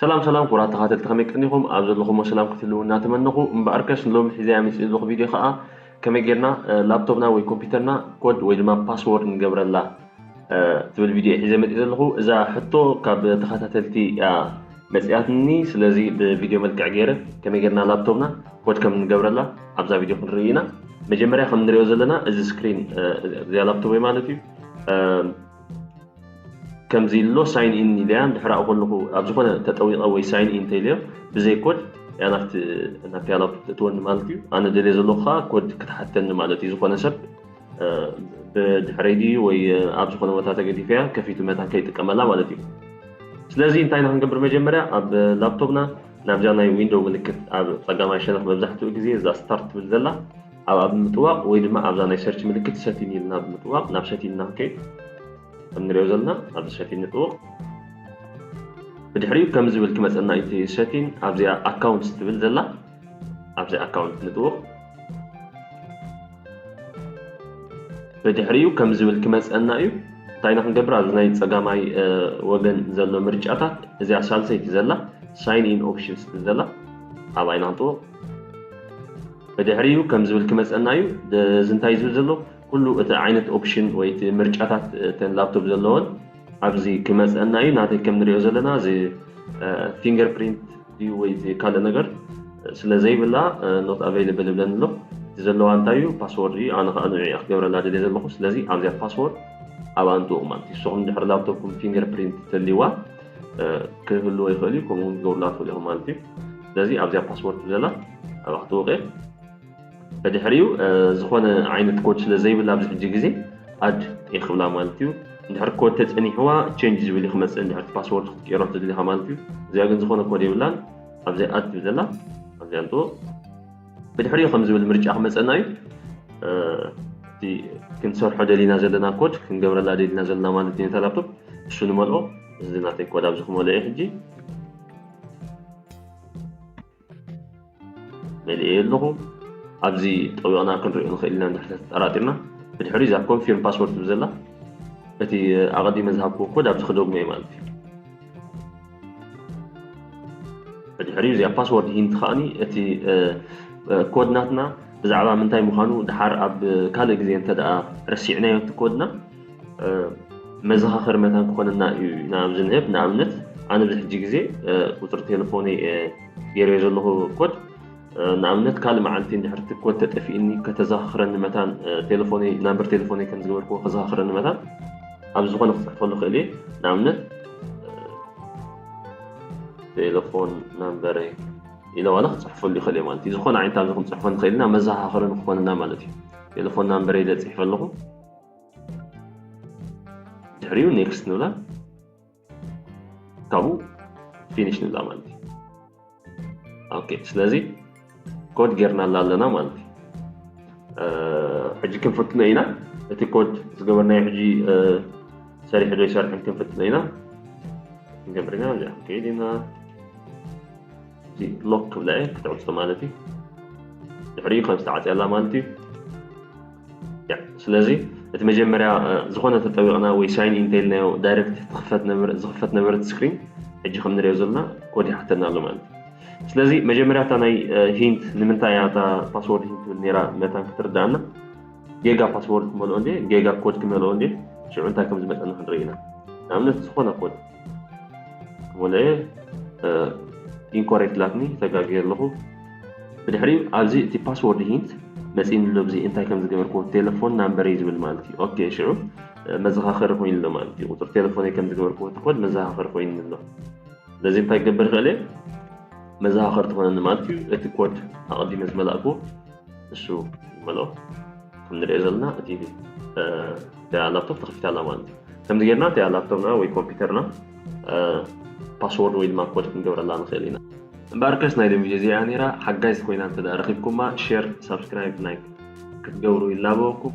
ሰላም ሰላም ክቡራት ተከታተልቲ ከመይ ቀኒኩም ኣብ ዘለኩሞ ሰላም ክትህልውና እናተመነኩ እምበኣር ከስ ሎሚ ሒዘያ መጽየ ዘለኩ ቪድዮ ከዓ ከመይ ጌርና ላፕቶፕና ወይ ኮምፒውተርና ኮድ ወይ ድማ ፓስወርድ ንገብረላ ትብል ቪድዮ ሒዘ መጽየ ዘለኩ እዛ ሕቶ ካብ ተከታተልቲ እያ መጽያትኒ ስለዚ ብቪድዮ መልክዕ ገይረ ከመይ ጌርና ላፕቶፕና ኮድ ከም ንገብረላ ኣብዛ ቪድዮ ክንርኢ ኢና መጀመርያ ከም ንሪኦ ዘለና እዚ ስክሪን እዚኣ ላፕቶፕ ማለት እዩ ከምዚ ኢሉ ኣሎ ሳይን ኢን ኢለያ እንድሕር ኣብኡ ከለኹ ኣብ ዝኾነ ተጠዊቐ ወይ ሳይን ኢን እንተኢለዮ ብዘይ ኮድ እያ ናብቲ ናብተያ ላፕቶፕ ተእትወኒ ማለት እዩ ኣነ ደልየ ዘለኹ ከዓ ኮድ ክትሓተኒ ማለት እዩ ዝኾነ ሰብ ብድሕረይ ድዩ ወይ ኣብ ዝኾነ ቦታ ተገዲፈያ ከፊቱ መታ ከይጥቀመላ ማለት እዩ ስለዚ እንታይ ኢና ክንገብር መጀመርያ ኣብ ላፕቶፕና ናብዛ ናይ ዊንዶው ምልክት ኣብ ፀጋማይ ሸነኽ መብዛሕትኡ ግዜ እዛ ስታርት ትብል ዘላ ኣብ ኣብ ምጥዋቕ ወይ ድማ ኣብዛ ናይ ሰርች ምልክት ሰቲን ኢልና ብምጥዋቕ ናብ ሰቲን እና ክንከይድ ከም ንሪኦ ዘለና ኣብዚ ሰቲን ንጥውቕ ብድሕሪኡ ከም ዝብል ክመፀና እቲ ሰቲን ኣብዚኣ ኣካውንትስ ትብል ዘላ ኣብዚ ኣካውንት ንጥውቕ ብድሕሪኡ ከም ዝብል ክመፀና እዩ እንታይ ኢና ክንገብር ኣብዚ ናይ ፀጋማይ ወገን ዘሎ ምርጫታት እዚኣ ሳልሰይቲ ዘላ ሳይን ኢን ኦፕሽንስ ትብል ዘላ ኣብኣ ኢና ክንጥውቕ ብድሕሪኡ ከም ዝብል ክመጸና እዩ እዚ እንታይ ዝብል ዘሎ ኩሉ እቲ ዓይነት ኦፕሽን ወይ እቲ ምርጫታት እተን ላፕቶፕ ዘለወን ኣብዚ ክመጸና እዩ ናተይ ከም ንሪኦ ዘለና እዚ ፊንገር ፕሪንት እዩ ወይ እቲ ካልእ ነገር ስለ ዘይብላ ኖት ኣቨይለብል ይብለኒ ኣሎ እቲ ዘለዋ እንታይ እዩ ፓስወርድ እዩ ኣነ ከዓ ንዕኡ ክገብረላ ደልየ ዘለኹ ስለዚ ኣብዚኣ ፓስወርድ ኣብ ኣንጥኡ ማለት እዩ ንስኹም ድሕሪ ላፕቶፕኩም ፊንገር ፕሪንት ተልይዋ ክህልዎ ይኽእል እዩ ከምኡውን ክገብሩላ ትኽእሉ ኢኹም ማለት እዩ ስለዚ ኣብዚኣ ፓስወርድ ብለላ ኣብኣ ክትወቀ ብድሕሪኡ ዝኾነ ዓይነት ኮድ ስለ ዘይብላ ኣብዚ ሕጂ ግዜ ኣድ እየ ክብላ ማለት እዩ እንድሕር ኮድ ተፀኒሕዋ ቸንጅ ዝብል እዩ ክመፅእ እንድሕር ፓስወርድ ክትቀይሮ ትድሊኻ ማለት እዩ እዚኣ ግን ዝኾነ ኮድ የብላን ኣብዚ ኣድ ትብል ዘላ ኣብዚኣ ንጥቦ ብድሕሪኡ ከም ዝብል ምርጫ ክመፀና እዩ እቲ ክንሰርሖ ደሊና ዘለና ኮድ ክንገብረላ ደሊና ዘለና ማለት እዩ ነታ ላፕቶፕ እሱ ንመልኦ እዚ ናተይ ኮድ ኣብዚ ክመልኦ እዩ ሕጂ መሊኤዮ ኣለኹ ኣብዚ ጠዊቕና ክንሪኦ ንኽእል ኢና እንድሕሪ ተጠራጢርና ብድሕሪኡ እዛ ኮንፊርም ፓስወርድ ትብል ዘላ እቲ ኣቐዲመ ዝሃብክዎ ኮድ ኣብዚ ክደግሞ እዩ ማለት እዩ ብድሕሪኡ እዚኣ ፓስወርድ ሂንቲ ከዓኒ እቲ ኮድ ናትና ብዛዕባ ምንታይ ምዃኑ ድሓር ኣብ ካልእ ግዜ እንተ ረሲዕናዮ እቲ ኮድና መዘኻኸሪ መታን ክኾነና እዩ ኢና ኣብዚ ንህብ ንኣብነት ኣነ እዚ ሕጂ ግዜ ቁፅሪ ቴሌፎነይ ገይረዮ ዘለኹ ኮድ ንኣብነት ካልእ መዓልቲ እንድሕር እቲ ኮድ ተጠፊእኒ ከተዘኻኽረኒ መታን ቴሌፎነይ ናምበር ቴሌፎነይ ከም ዝገበርክዎ ከዘኻኽረኒ መታን ኣብ ዝኾነ ክፅሕፈሉ ክእል እየ ንኣብነት ቴሌፎን ናምበረይ ኢለ ዋላ ክፅሕፈሉ ይኽእል እየ ማለት እዩ ዝኾነ ዓይነት ኣብዚ ክንፅሕፎ ንኽእል ኢና መዘኻኸሪ ንክኾንና ማለት እዩ ቴሌፎን ናምበረይ ኢለ ፅሒፈ ኣለኹ ድሕሪኡ ኔክስት ንብላ ካብኡ ፊኒሽ ንብላ ማለት እዩ ኦኬ ስለዚ ኮድ ጌርናላ ኣለና ማለት እዩ ሕጂ ክንፍትኖ ኢና እቲ ኮድ ዝገበርናዮ ሕጂ ሰሪሑ ዶ ይሰርሕን ክንፍትኖ ኢና ንጀምር ኢና ከይድ ኢና እዚ ሎክ ትብላ እየ ክትዕፆ ማለት እዩ ድሕሪኡ ከም ዝተዓፅያ ኣላ ማለት እዩ ስለዚ እቲ መጀመርያ ዝኾነ ተጠዊቕና ወይ ሳይን ኢን እንተኢልናዮ ዳይረክት ዝኽፈት ነበረት ስክሪን ሕጂ ከም ንሪኦ ዘለና ኮድ ይሓተና ኣሎ ማለት እዩ ስለዚ መጀመርያ እታ ናይ ሂንት ንምንታይ እያ እታ ፓስወርድ ሂንት ትብል ነራ መታን ክትርዳእና ጌጋ ፓስወርድ ክመልኦ እንዴ ጌጋ ኮድ ክመልኦ እንዴ ሽዑ እንታይ ከም ዝመፀና ክንርኢ ኢና ንኣብነት ዝኾነ ኮድ ወለየ ኢንኮሬክት ላትኒ ተጋግየ ኣለኹ ብድሕሪኡ ኣብዚ እቲ ፓስወርድ ሂንት መፂእኒ ኣሎ ብዚ እንታይ ከም ዝገበርክዎ ቴሌፎን ናምበረይ ዝብል ማለት እዩ ኦኬ ሽዑ መዘኻኸሪ ኮይኑ ኣሎ ማለት እዩ ቁፅሪ ቴሌፎነይ ከም ዝገበርክዎ ትኮድ መዘኻኸሪ ኮይኑ ኣሎ ስለዚ እንታይ ክገብር ይኽእል እየ መዘኻኸሪ ትኾነኒ ማለት እዩ እቲ ኮድ ኣቐዲመ ዝመላእክዎ ንሱ ዝበሎ ከም ንሪኦ ዘለና እቲ ላፕቶፕ ተኸፊታ ኣላ ማለት እዩ ከምዚ ጌርና እቲኣ ላፕቶፕና ወይ ኮምፒውተርና ፓስወርድ ወይ ድማ ኮድ ክንገብረላ ንኽእል ኢና እምበኣር ከስ ናይ ሎሚ እዚኣ ነይራ ሓጋይዝ ኮይና እንተ ረኺብኩማ ሸር ሳብስክራይብ ላይክ ክትገብሩ ይላበወኩም